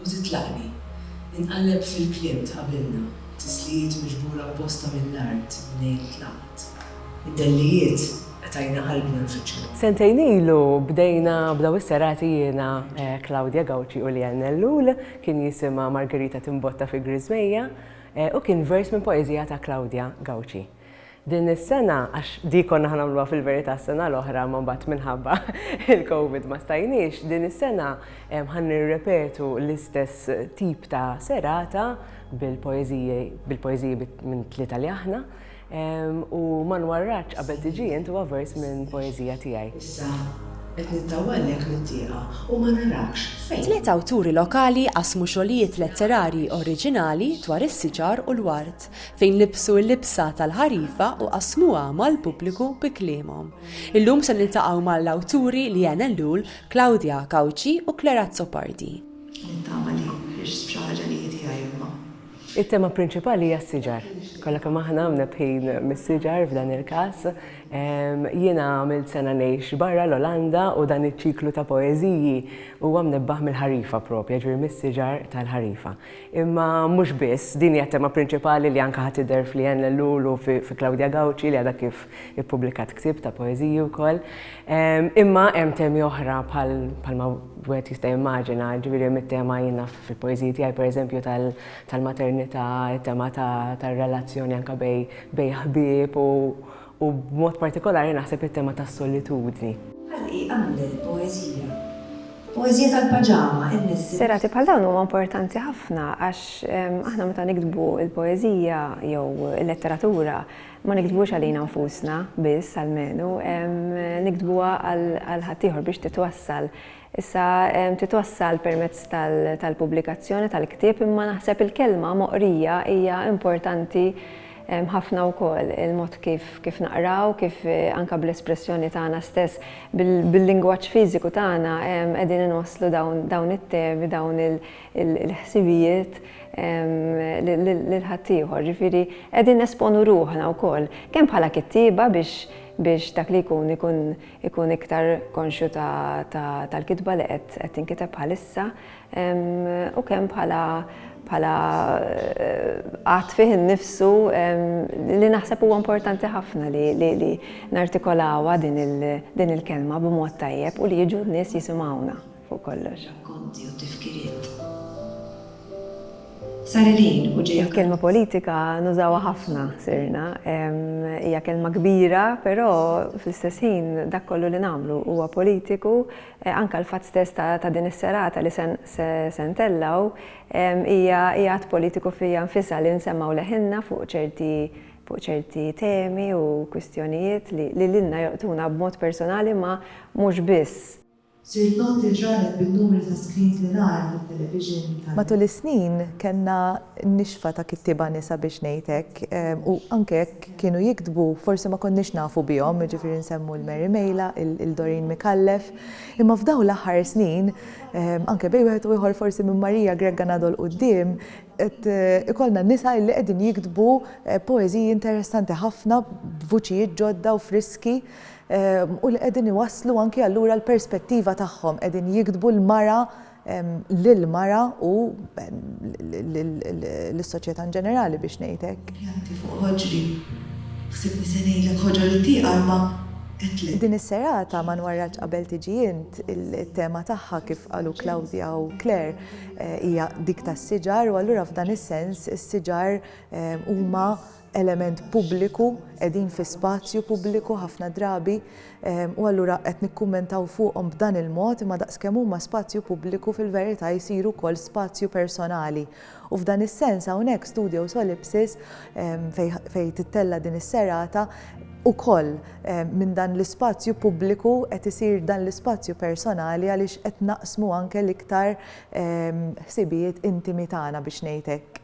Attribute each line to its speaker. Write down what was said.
Speaker 1: U titlaqni. Inqalleb fil-kliem tqabilna, tislijiet miġbura apposta mill-art mnejn tlaqt. Id-dellijiet qtajna qalbna nfittxu. Sentejn ilu
Speaker 2: bdejna b'daw is-serati jiena, Claudia Gauci u Leanne Ellul, kien jisimha Margherita Timbotta fi Griżmejja u kien vers minn poeżija ta' Claudia Gauci. Din is-sena, għax di konna ħa nagħmluha fil-verità s-sena l-oħra imma mbagħad minħabba l-Covid ma stajniex, din is-sena ħa nirrepetu l-istess tip ta' serata bil-poeżiji bil-poeżiji minn tlieta li aħna u ma nwarradx qabel tiġi int huwa vers minn poeżija tiegħi. Issa
Speaker 1: qed nittawallek mit-tieqa u ma narakx fejn. Tliet awturi lokali
Speaker 3: qasmu xogħlijiet letterarji oriġinali dwar is-siġar u l-ward. fejn libsu l-libsa tal-ħarifa u qasmuha mal-pubbliku bi kliemhom. Illum se niltaqgħu mal-awturi Lian Ellul, Claudia Cauchi u Claire Azzopardi. Nittama li
Speaker 1: ħriġt b'xi ħaġa li hi tiegħi imma. It-tema
Speaker 2: prinċipali hija s-siġar. Kollha kemm aħna mnebbħin mis-siġar f'dan il-każ. Jiena għamilt sena ngħix barra l-Olanda u dan iċ-ċiklu ta' poeżiji huwa mnebbaħ mill-ħarifa propja, ġifieri mis-siġar tal-ħarifa. Imma mhux biss, din hija t-tema prinċipali li anke ħa tidher f'Lianne Ellul u fi Claudia Gauci li għadha kif ippubblikat ktieb ta' poeżiji wkoll. Imma hemm temi oħra bħal bħalma wieħed jista' jimmaġina, ġifieri hemm it-tema jien naf fil-poeżiji tiegħi pereżempju tal-maternità, it-tema tar-relazzjoni anke bejn ħbieb u b'mod partikolari naħseb it-tema tas-solitudni. Ħalqi
Speaker 1: għamel poeżija. Poeżija tal-paġama, in-nies. Serati bħal dawn huma
Speaker 4: importanti ħafna għax aħna meta niktbu l-poeżija jew il-letteratura ma niktbuhiex għalina nfusna biss almenu, niktbuha għal ħaddieħor biex titwassal Issa titwassal permezz tal-pubblikazzjoni tal-ktieb imma naħseb il-kelma moqrija hija importanti ħafna wkoll, il-mod kif naqraw, kif anke bl-espressjoni tagħna stess, bil-lingwaġġ fiżiku tagħna qegħdin inwasslu dawn it-temi, dawn il-ħsibijiet lil ħaddieħor. Jiġifieri qegħdin nesponu ruħna wkoll kemm bħala kittieba biex dak li jkun ikun ikun iktar konxju tal-kitba li qed tinkiteb bħalissa u kemm bħala bħala qatt fih innifsu li naħseb huwa importanti ħafna li nartikolawha din il-kelma b'mod tajjeb u li jiġu n-nies jisimgħuna. fuq kollox. Rakkonti
Speaker 1: u tifkiriet. Sar il-ħin u ġej. Il-kelma politika
Speaker 4: nużawha ħafna sirna. Hija kelma kbira, però fl-istess ħin dak kollu li nagħmlu huwa politiku. Anke l-fatt stess ta' din is-serata li se ntellgħu hija att politiku fiha nfisha li nsemgħu leħinna fuq ċerti fuq ċerti temi u kwistjonijiet li lilna jolqtuna b'mod personali ma mhux biss. Sirt noti
Speaker 1: li ġralek bin-numri ta' screens li nara fit-television tal. Matul is-snin
Speaker 5: kellna nixfa ta' kittieba nisa biex ngħid hekk u anke jekk kienu jiktbu forsi ma konniex nafu bihom, jiġifieri nsemmu lil Mary Mejla, lil Doreen Micallef. Imma f'dawn l-aħħar snin, anke bejn wieħed u ieħor forsi minn Maria Grega ngħaddu 'l quddiem, qed ikollna nisa illi qegħdin jiktbu poeżiji interessanti ħafna b'vuċijiet ġodda u friski. u li qegħdin iwasslu anki allura l-perspettiva tagħhom, qegħdin jiktbu l-mara lill-mara u lis-soċjetà in ġenerali biex ngħid hekk. Pjanti fuq ħoġri.
Speaker 1: Ħsibtni se ngħidlek ħoġor it-tieqa imma għedtlek. Din is-serata
Speaker 5: ma nwarrakx qabel tiġi int, it-tema tagħha kif qalu Claudia u Claire hija dik tas-siġar u allura f'dan is-sens is-siġar huma element pubbliku, qegħdin fi spazju pubbliku ħafna drabi u allura qed nikkummentaw fuqhom b'dan il-mod imma daqskemm huma spazju pubbliku fil-verità jsiru wkoll spazju personali. U f'dan is-sens hawnhekk Studio Solipsis fejn tittella' din is-serata ukoll minn dan l-ispazju pubbliku qed isir dan l-ispazju personali għaliex qed naqsmu anke l-iktar ħsibijiet intimi tagħna biex ngħid hekk.